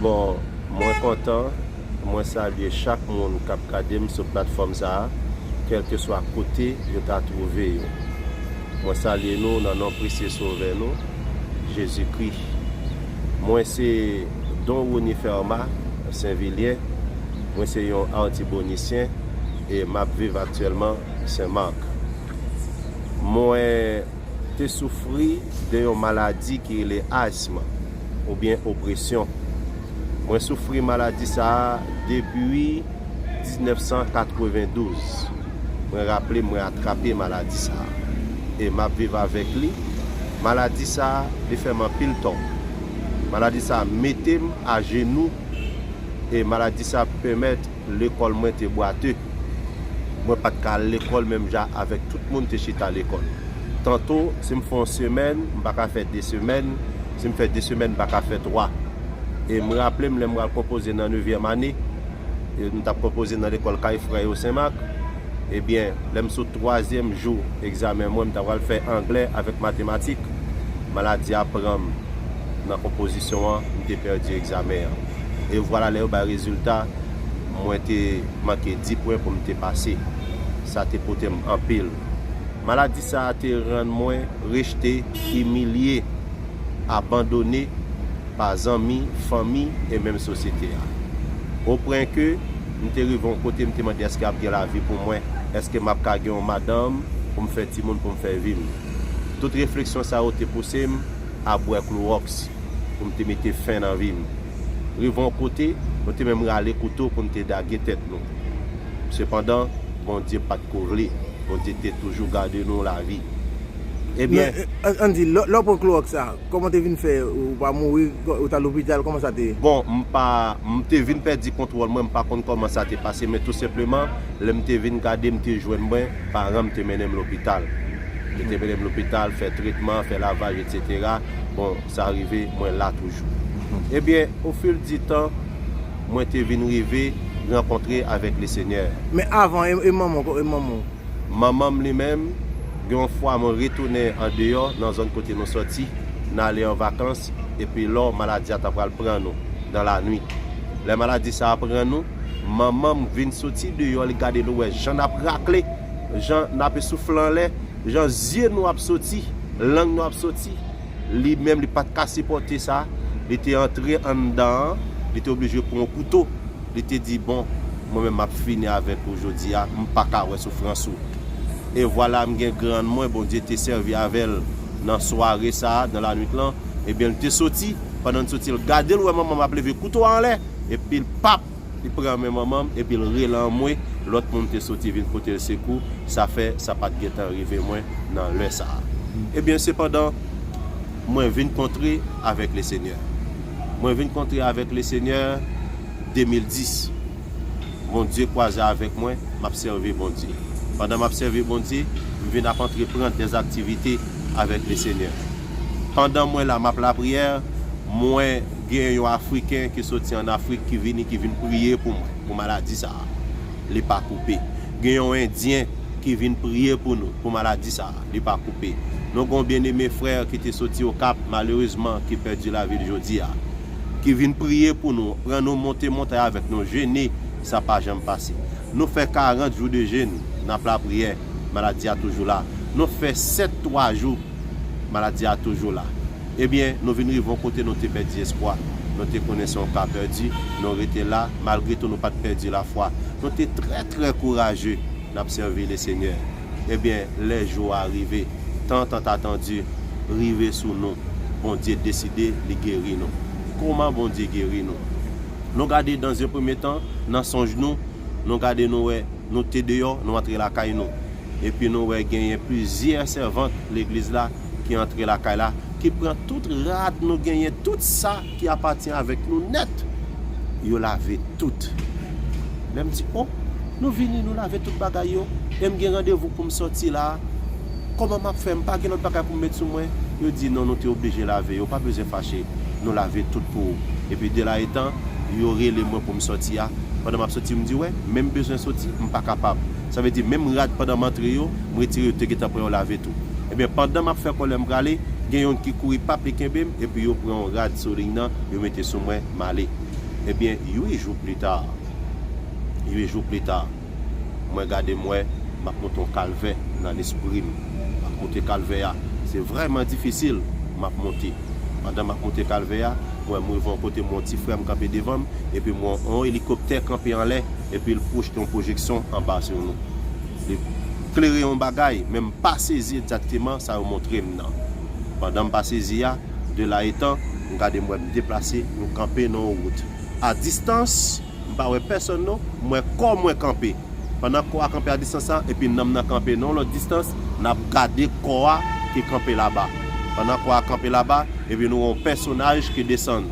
Bon mwen kontan, mwen salye chak moun kap gadem sou platfòm sa a kèlkeswa kote yo ta twouve yo. Mwen salye nou nan non presye sovè nou Jezikri. Mwen se Don Rony Fermat Sen Vilyen, mwen se yon Artibonicien e map viv aktyèlman Sen Marc. Mwen. te soufri de yon maladi ki rele asm oubyen opresyon. Mwen soufri maladi sa a depi 1992. Mwen raple mwen atrape maladi sa a e m ap viv avèk li. Maladi sa a li fè m anpil tò. Maladi sa a mete m ajenou e maladi sa a pèmèt Lekòl mwen te bwate. Mwen pa t ka al lekòl menm jan avèk tout moun te chita lekòl. Tanto, si m fè yon semèn, m pa ka fè de semèn, si m fè de semèn, m pa ka fè twa. E m raple m lè m pral konpoze nan nevyèm ane, m t ap konpoze nan lekòl Kay Frè yo Senmak, ebyen, lè m sot twazyèm jou egzamen mwen, m ta pral fè anglè avèk matematik, maladi a pran m nan konpozisyon an, m te pèdi egzamen an. e vwala lè yo bay rezilta mwen te manke di pwen pou m te pase. Sa te pote m anpil. Maladi sa a te rann mwen rejte, imilye, abandone pa zanmi, fanmi e menm sosyete a. O pwen ke m te rive yon kote m te mande èske ap gen lavi pou mwen? Èske m ap ka gen yon madanm pou m fè timoun pou m fè vi m? Tout refleksyon sa yo te pouse m a bwè klowòks. pou m te mete fen nan vi m. Rive yon kote, nou te menm rale kouto pou n te dage tèt nou. Sepandan, Bondye pa t ko vle. Bondye te toujou gade nou lavi. Ebyen. Men, ann di, lè w pran klowòks sa a, kòman w te vin fè? Ou pa mouri? Ou t al lopital? Kòman sa te ye? Bon, m pa. M te vin pèdi kontwòl mwen. M pa konn kòman sa te pase, men tou senpleman, lè m te vin gade, m te jwenn mwen. paran m te mennen m lopital. Yo te mennen m lopital, fè tretman, fè lavaj etsetera, bon sa rive mwen la toujou. Ebyen ofil di tan mwen te vin rive rankontre avèk Lesenyè. Men avan, e manman w, e manman w? Manman m li menm, gen yon fwa mwen retounen andeyò nan zòn kote nou sòti, n ale an vakans, epi lò maladi a ta pral pran nou, dan lanwit. Lè maladi sa a pran nou. Manman m vin soti deyò li gade nou wè jan nap rakle, jan nap esoufle anlè, jan zye nou ap soti, lang nou ap soti. Li menm li pat ka sipòte sa, li te antre anndan an, li te oblije pran yon kouto, li te di bon mwen menm map fini avèk ou jodi a, m paka wè soufrans ou. E vwala m gen grann mwen Bondye te sèvi avè l nan sware sa, nan lanwit lan, ebyen li te soti, pandan li soti l gade l wè manman m ap leve kouto a anlè. Epi l pap! Li pran men manman m epi l rele anmwe, lòt moun te soti vin pote l sekou, sa fè sa pa t gen tan rive mwen nan lè sa a. Ebyen, sepandan, mwen vin kontre avèk Lesenyè. Mwen vin kontre avèk Lesenyè 2010. Bondye kwaze avèk mwen, m ap sèvi Bondye. Pandan m ap sèvi Bondye, m vin ap antrepran dè aktivite avèk Lesenyè. Pandan mwen la m ap lapriyè, mwen. Gen yon Afriken ki soti an Afrik ki vini ki vin priye pou mwen, pou maladi sa a, li pa koupe. Gen yon Endyen ki vin priye pou nou, pou maladi sa a, li pa koupe. Nou gen yon byeneme frè ki te soti Okap, malerezman, ki pèdi lavi l jodi a, ki vin priye pou nou, pran nou monte montay avèk nou, jene, sa pa janm pase. Nou fè karant jou de jèn, n ap lapriyè, maladi a toujou la. Nou fè sèt twa jou, maladi a toujou la. Ebyen, nou vin rive yon kote nou te pèdi espwa. Nou te konnen se yon ka pèdi. Nou rete la, malgre tou nou pa t pèdi lafwa. Nou te trè trè kouraje. N ap sèvi Lesenyè. Ebyen, lè jou a rive, tan tantatandi rive sou nou. Bondye deside li geri nou. Kouman Bondye geri nou? Nou gade dan zye premye tan, nan sonj nou, nou gade nou wè nou te deyò, nou antre lakay nou. Epi nou wè genyen plizyè sèvant Legliz la. ki antre lakay la, ki pran tout rad nou genyen, tout sa ki apatyen avèk nou nèt, yo lave tout. Lè m di, O, nou vini, nou lave tout bagay yo, e m gen randevou pou m soti la a, kòman m ap fè? M pa gen lòt bagay pou m met sou mwen? Yo di, Non, nou te oblije lave yo, pa bezwen fache, nou lave tout pou ou. Epi de la etan, yo rele mwen pou m soti a, pandan m ap soti, m di, Wè, men m bezwen soti, m pa kapab. Sa vle di, menm rad pandan m antre yo, m retire yo, yo te gentan pran yo lave tou. Ebyen pandan map fè kòlè m prale, gen yonn ki kouri pap e kenbe m epi yo pran yon rad sou liy nan yo mete sou mwen m ale. Ebyen 8 jou plita, 8 jou plita mwen gade m wè map monte yon kalvè nan lespri m. Map monte kalvè a, se vrèman difisil map monte. Pandan map monte kalvè a, m wè m rive yon kote m wè yon ti frè m kanpe devan m epi m wè yon elikoptè kanpe anlè epi l pwojte yon pwojeksyon anba sou nou. Li. klere yon bagay, men m pa sezi egzakteman sa yo montre m nan. Pandan m pa sezi a, de la etan, m gade m wè m deplase, nou kanpe nan yon wout. A distans, m pa wè pèsòn non, m wè kò mwen kanpe. Pandan kò a kanpe a distans sa, epi nanm nan kanpe nan yon lòt distans, n ap gade kò a ki kanpe laba. Pandan kò a kanpe laba, epi nou wè yon pèsonaj ki desann.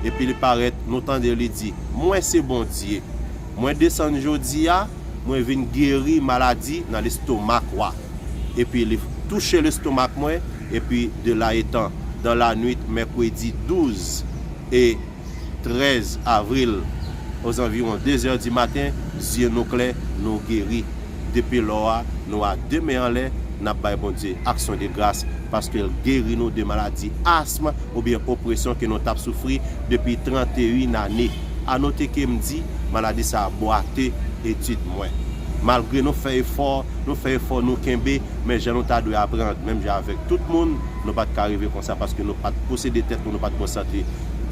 Epi li parèt, nou tande li di, Mwen se Bondye. Mwen desann jodi a. Mwen vin geri maladi nan lestomak wa. Epi li touche lestomak mwen, epi de la etan, dan la nwit mèkredi 12 e 13 avril, ozanviwon de zè di maten, zye nou klè, nou geri. Depi lò a, nou a de men anlè, n ap bay Bondye aksyon de gras, paske l geri nou de maladi asm oubyen opresyon ke nou t ap soufri depi 31 ane. A note ke m di maladi sa a bwate etid mwen. Malgre nou fè efò, nou fè efò nou kenbe, men jan nou ta dwe aprann, menm jan avèk tout moun, nou pa t ka rive konsa paske nou pa t posede tèt nou, nou pa t gen yon sante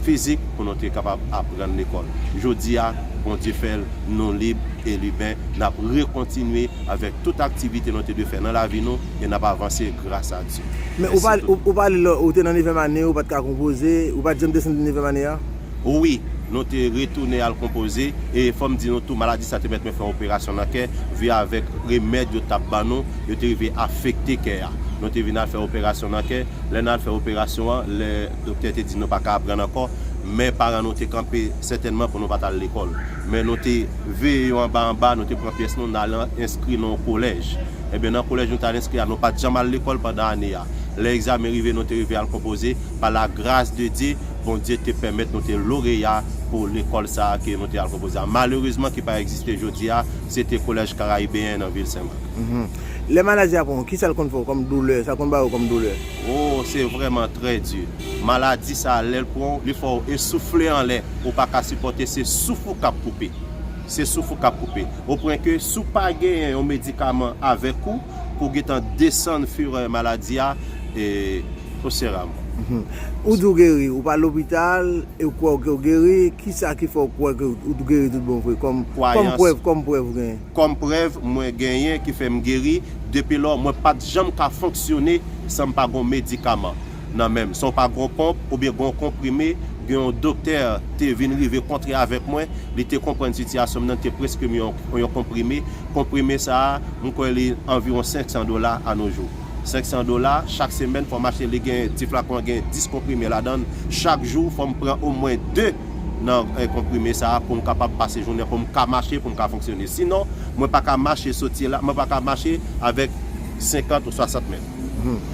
fizik pou nou te kapab aprann lekòl. Jodi a, Bondye fè l, nou lib e liben, n ap rekontinye avèk tout aktivite nou te dwe fè nan lavi nou e n ap avanse gras a Dye. Men ou pale, ou pale lè ou te nan nevyèm ane, ou pa t ka konpoze, ou pa t janm desann de nevyèm ane a? Wi, nou te retounen al konpoze, e fò m di nou tou maladi sa te mèt mwen fè operasyon nan kè, vi avèk remèd yo t ap ban nou, yo te rive afekte kè a. Nou te vin al fè operasyon nan kè, lè n al fè operasyon an, lè doktè te di nou pa ka aprann ankò, men paran nou te kanpe sètènman pou nou pa t al lekòl. Men nou te veye yo anba anba, nou te pran pyès nou, n al enskri nan yon kolèj. Enben, nan kolèj nou t al enskri a, nou pa t janm al lekòl pandan ane a. Lè egzamen rive, nou te rive al konpoze, pa lagras de Dye, Bondye te pèmèt nou te loreya pou lekòl sa a ke nou te al konpoze a. Malerezman ki pa egziste jodi a, se te Kolèj Karayibeyen nan vil Sen Mak. Lè maladi a pran ou, kisa l konn fè ou kòm doulè, sa konn bay ou kòm doulè? O, se vrèman trè di. Maladi sa a lè l pran ou, li fè ou esoufle anlè, ou pa ka sipòte, se souf ou k ap koupe. Se souf ou k ap koupe. O pwen ke si w pa genyen yon medikaman avèk ou pou w gen tan desann furè maladi a, e. Ou sè a mwen. Ou di ou geri, ou pa al lopital e ou kwè ke ou geri, kisa ki fè ou kwè ke ou geri tout bon vre, kòm prèv, kòm prèv ou genyen? Kòm prèv mwen genyen ki fè m geri, depi lò mwen pa t janm ka fonksyone san m pa gen yon medikaman nan men m. San w pa gen yon ponp oubyen gen yon konprime, gen yon doktè te vin rive kontre avèk mwen, li te konprann sitiyasyon m nan, li te preskri m yon konprime. Konprime sa a, m kwè li anviwon 500 dola anojou. 500 dola chak semèn fòm achte li gen ti flakon an gen 10 konprime ladann chak jou fòm pran omwen 2 nan konprime sa poum kapab pase jounen poum ka mache poum ka fonksyone sinon mwen paka mache soti la mwen paka mache avèk 50 ou 60 mèt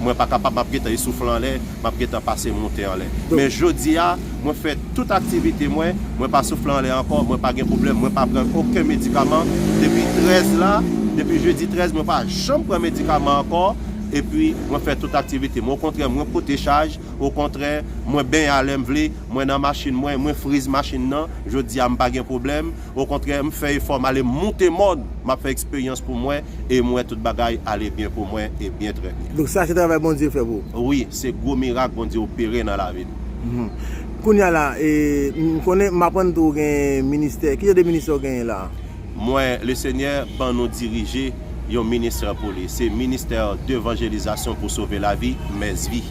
mwen pa kapab map gentan esoufle anlè. map gentan pase moute anlè men jodia mwen fè tout aktivite mwen mwen pa soufle anlè ankò mwen pa gen pwoblèm mwen pa pran oken medikaman depi 13 la depi jedi 13 mwen pa janm pran medikaman ankò epi mwen fè tout aktivite mwen okontrè mwen pote chaj okontrè mwen benyen alèm vle mwen nan machin mwen mwen friz machin nan jodia mpa gen pwoblèm. Okontrè, m fè efò, m ale moute mòn, m ap fè eksperyans pou mwen, e m wè tout bagay ale byen pou mwen, e byen trè byen. Donk sa se travay Bondye fè pou ou? Wi, se gwo mirak Bondye opere nan lavi m. Mph. Kounye a la, e, m konnen, m aprann tou ou gen ministè. Ki jan de ministè ou genyen la a? Mwen, Lesenyè ban nou dirije yon ministè pou Li. Se ministè devanjelizasyon pou sove lavi, msvi.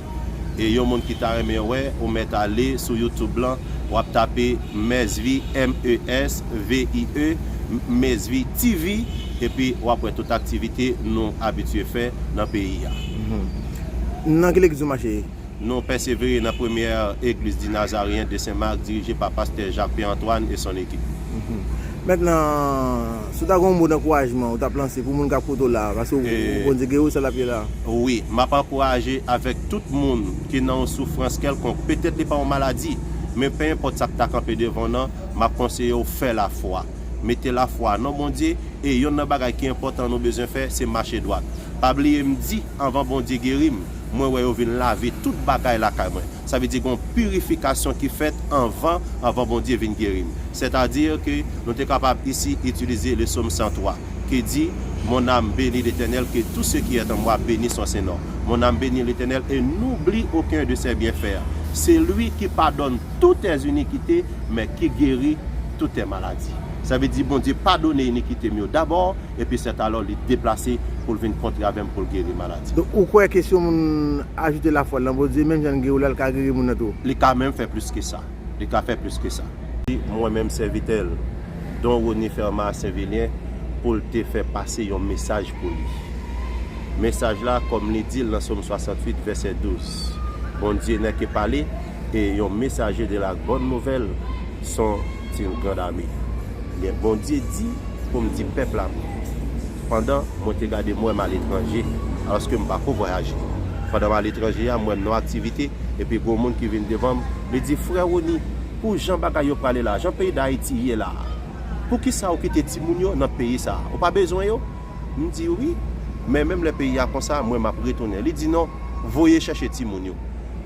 e yon moun ki ta renmen wè ou mèt ale sou youtube lan wap tape mesvie m e s v i e mesvie TV epi wap wè tout aktivite nou abitye fè nan peyi a. Nan ki legliz ou mache ye? Nou pèsevere nan premyè egliz di Nazaryen de Sen Mak dirije pa pastè Jacques Pierre Antoine e son ekip. Mèt nan. Si w ta gen yon mo dankourajman ou t ap lanse pou moun k ap koute w la a, paske w konn se geri w sèl l ap ye la a? Wi, m ap ankouraje avèk tout moun ki nan yon soufrans kèlkonk, petèt li pa yon maladi, men penenpòt sa k ta kanpe devan w nan, m ap konseye w fè lafwa. Mete lafwa nan Bondye, e yonn nan bagay ki enpòtan nou bezwen fè, se mache dwat. Pa bliye m di, anvan Bondye geri m, mwen wè yo vin lave tout bagay lakay mwen. Sa vle di gen yon pirifikasyon ki fèt anvan, anvan Bondye vin geri m. Sètadi ke nou te kapab isi itilize le Som 103, ki di, Mon ame beni Letènèl, ke tou se ki è tan mwa beni son sen non. Mon ame beni Letènèl e noubli oken de sè byenfè. Se lwi ki padonn toutè zinikite, men ki geri toutè maladi. Sa vle di Bondye padone inikite m yo dabò. epi sètalò li deplase pou l vin kontre avè m pou l geri maladi m. Donk, ou kwè ke si yon moun ajoute lafwa l nan Bondye, menm jan l geri w la, l ka geri moun nan tou? Li ka menm fè plis ke sa. Li ka fè plis ke sa. Di, mwen menm sèvitè l, Don Rony Fermat Sainvilien, pou l te fè pase yon mesaj pou li. Mesaj la, kòm li di l nan Sòm 68, vèsè 12, Bondye nè ke pale, e yon mesaje de la bòn nouvèl son une grande armée ebyen Bondye di pou m di pèp la pou yo pandan mwen te gade m wè m a letranje alòske m pako vwayaje pandan m a letranje a m wè m nan aktivite epi gen yon moun ki vin devan m li di frè Rony pou jan bagay yo prale la jan peyi dayiti ye la poukisa ou kite timoun yo nan peyi sa ou pa bezwen yo M di wi, men menm lè peyi a konsa mwen map retounen. Li di non, voye chèche timoun yo.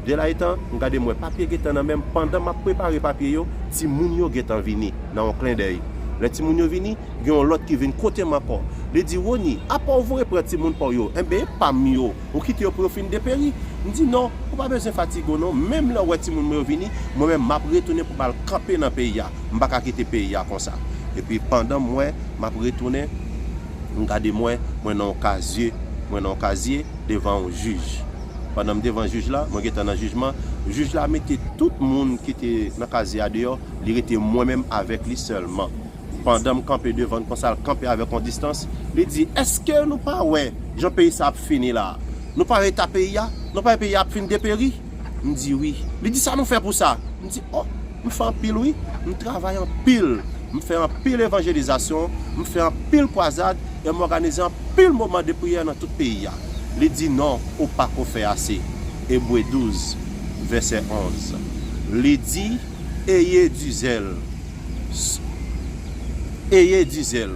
Delaïtan, m gade m wè papye gentan nan men m, pandan map prepare papye yo, timoun yo gentan vini, nan yon klendèy. Lè timoun yo vini, gen yon lòt ki vin kote m ankò. Li di, Rony, apa ou voye pran timoun pa w yo, enben e pa m yo, ou kite yo pou yo fin deperi? M di non, ou pa bezwen fatige w non, menm lè ou wè timoun mwen yo vini, mwen menm map retounen pou m al kanpe nan peyi a. M pa ka kite peyi a konsa. Epi pandan mwen m ap retounen, m gade mwen, mwen nan yon kazye, mwen nan yon kazye devan yon jij. Pandan m devan jij la, mwen gentan nan jijman, jij la mete tout moun ki te nan kazye a deyò, li rete mwen menm avèk li sèlman. Pandan m kanpe devan l konsa, l kanpe avèk yon distans, li di, Èske nou pa wè jan peyi sa a ap fini la a? Nou pa wè eta peyi a? Nou pa wè peyi a ap fin deperi? M di wi. Li di sa nou fè pou sa? M di oh, m fè anpil wi. M travay anpil. M fè anpil evanjelizasyon. M fè anpil kwazad e m òganize anpil moman de priyè nan tout peyi a. Li di non, ou pa ko fè ase. Ebre 12, vèsè 11. Li di, Eye di zèl. Eye di zèl.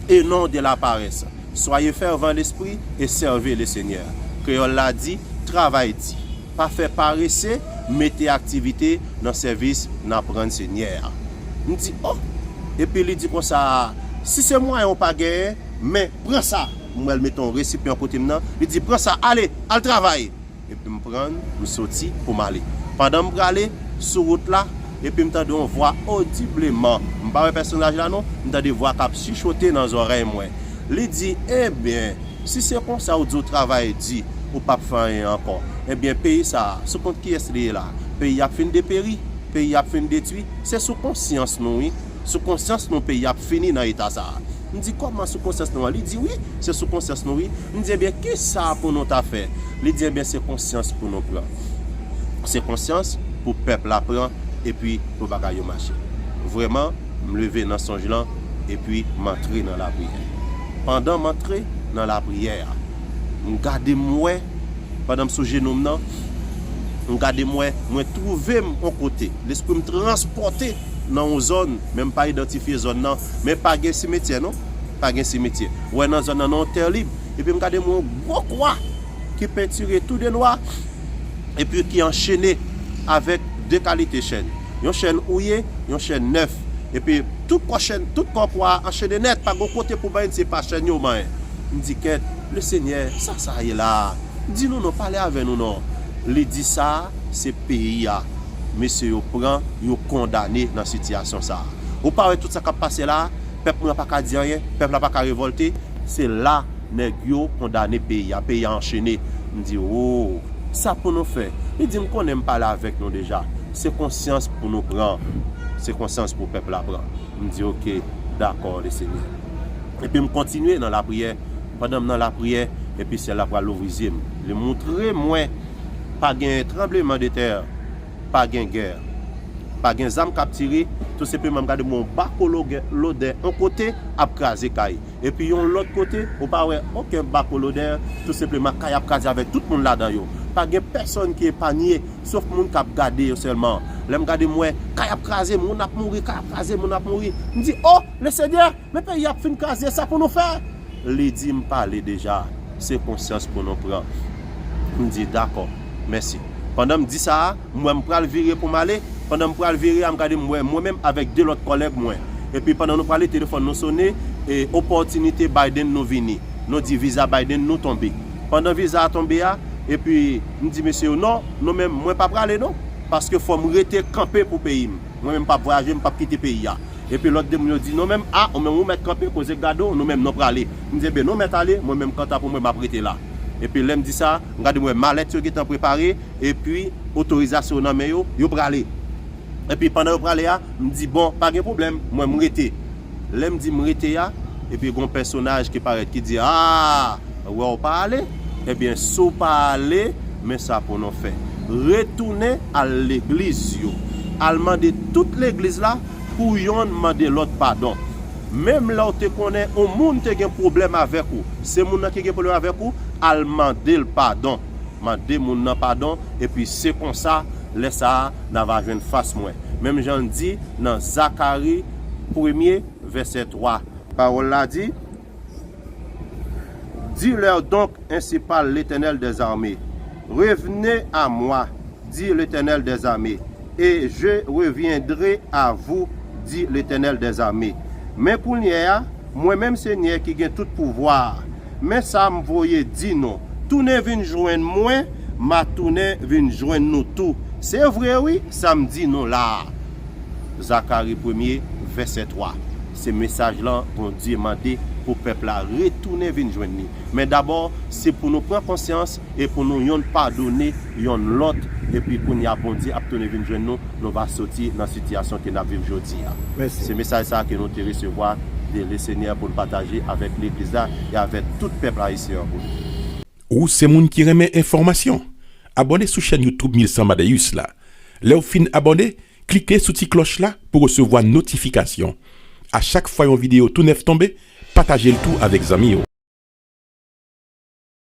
E non de laparès. Soyez fervent d'esprit et servez le Seigneur. Kreyòl la di, Travay di. Pa fè parese, mete aktivite nan sèvis n ap rann Senyè a. M di, O! Epi li di konsa, Si se mwayen ou pa genyen, men, pran sa! M wè l mete yon resipyan kote m nan, li di, Pran sa, ale, al travay! Epi m pran, m soti pou m ale. Pandan m prale, sou wout la, epi m tande yon vwa odibleman, m pa wè pèsonaj la non, m tande vwa k ap chichote nan zòrèy mwen. Li di, Enben, si se konsa ou di ou travay di, ou p ap fè anyen ankò. Enben, peyi sa a, sou kont kiyès li ye la a? Peyi a ap fin deperi, peyi a ap fin detwi, se sou konsyans nou wi. Sou konsyans nou peyi a ap fini nan eta sa a. M di, Kòman sou konsyans nou an? Li di, Wi, se sou konsyans nou wi. M di, Enben, ki sa pou nou ta fè? Li di, Enben, se konsyans pou nou pran. Se konsyans pou pèp la pran epi pou bagay yo mache. Vrèman, m leve nan sonj lan epi m antre nan lapriyè. Pandan m antre nan lapriyè a, m gade m wè, pandan m sou jenou m nan, m gade m wè, mwen twouve m on kote. Lespri m transpòte. nan yon zòn, men m pa idantifye zòn nan, men pa gen simetyè non, pa gen simetyè. Ou wè nan zòn nan nan yon tè lib, epi m gade m wè yon gwo kwa ki pentire tou de nwa, epi ki anchene avèk de kalite chèn. Yon chèn ouye, yon chèn nèf. Epi tout kò chèn, tout kò kwa a anchene nèt, pa gen yon kote pou manyen di se pa chèn yo manyen. M di kèt, Lesenyè, sa sa ye la a? Di nou non, pale avè nou non. Li di sa a se peyi a. mesye yo pran yo kondane nan sitiyasyon sa a. Ou pa wè tout sa k ap pase la a? Pèp mwen an pa ka di anyen? Pèp la pa ka revòlte? Se la nèg yo kondane peyi a. Peyi a anchene. M di, Oo! Sa pou nou fè? Li di, M konnen m pale avèk nou deja. Se konsyans pou nou pran. Se konsyans pou pèp la pran. M di, Oke, dakò, le Senyè. Epi m kontinye nan lapriyè. Pandan m nan lapriyè, epi syèl la pral louvri zye m. Li moutre mwen Pa gen tranbleman de tè Pa gen gè Pa gen zam k ap tire Tou senpleman m gade m wè yon bako lodè yon kote ap kraze kay Epi yon lòt kote ou pa wè oken bako lodè Tou senpleman kay ap kraze avèk tout moun ladan yo Pa gen pèsonn ki epanye Sof moun k ap gade yo sèlman Lè m gade m wè kay ap kraze moun ap mouri Kay ap kraze moun ap mouri M di o Lesenyè Men peyi yap fin kraze sa pou nou fè? Li di m pale deja, se konsyans pou nou pran. M di dakò. Mèsi. Pandan m di sa a, m wè m pral vire pou m ale, pandan m pral vire a m gade m wè mwen menm avèk 2 lòt kòlèg mwen. Epi pandan nou pale telefòn nou sone e opòtinite Biden nou vini. Nou di viza Biden nou tonbe. Pandan viza a tonbe a, epi m di mesye yo non, nou menm mwen pa prale non, paske fò m rete kanpe pou peyi m. Mwen menm pap vwayaje, mpap kite peyi a. Epi lòt 2 moun yo di non menm, ah ou menm ou mèt kanpe koze gade w nou menm nou prale. M di enben nou mèt ale, mwen menm kanta pou mwen map rete la. Epi lèm di sa, m gade m wè malèt yo gentan prepare, epi otorizasyon yo nan men yo, yo prale. Epi pandan yo prale a, m di bon pa gen pwoblèm, mwen m rete. Lè m di m rete a, epi gen yon pèsonaj ki parèt ki di aa, wè w pa ale, ebyen si w pa ale, men sa pou nou fè. Retounen al legliz yo. Al mande tout legliz la pou yonn mande lòt padon. Menm lè w te konnen yon moun te gen pwoblèm avèk ou, se moun nan ki gen pwoblèm avèk ou, al mande l padon. Mande moun nan padon, epi se konsa, lè sa a, n a va jwenn fas mwen. Menm jan l di nan Zakari. premye vèsè 3. Pawòl la di, Di lè donk, ensi pale Letènèl dèzame, Revne a mwa, di Letènèl dèzame, e je revyendre a vou, di Letènèl dèzame. Men kounyè a, mwen menm Senyè ki gen tout pouvwa a, men sa m voye di nou, tounen vin jwenn mwen, m a tounen vin jwenn nou tou. Se vre wi, sa m di nou la a. Zakari premye, vèsè 3, se mesaj lan Bondye mande pou pèp la retounen vin jwenn li. Men dabò, se pou nou pran konsyans e pou nou yonn padone yonn lòt, epi kounye a Bondye ap tounen vin jwenn nou, nou va soti nan sitiyasyon ke n ap viv jodi a. Se mesaj sa a ke nou te resevwa de Lesenyè pou n pataje avèk Legliz la e avèk tout pèp Ayisyen an pou nou. Ou se moun ki renmen enfòmasyon? Abòne sou chèn YouTube 1000 Sans Madeus la. Lè w fin abòne, klike sou ti klòch la pou resevwa notifikasyon. A chak fwa yon videyo tou nèf tonbe, pataje l tou avèk zanmi w.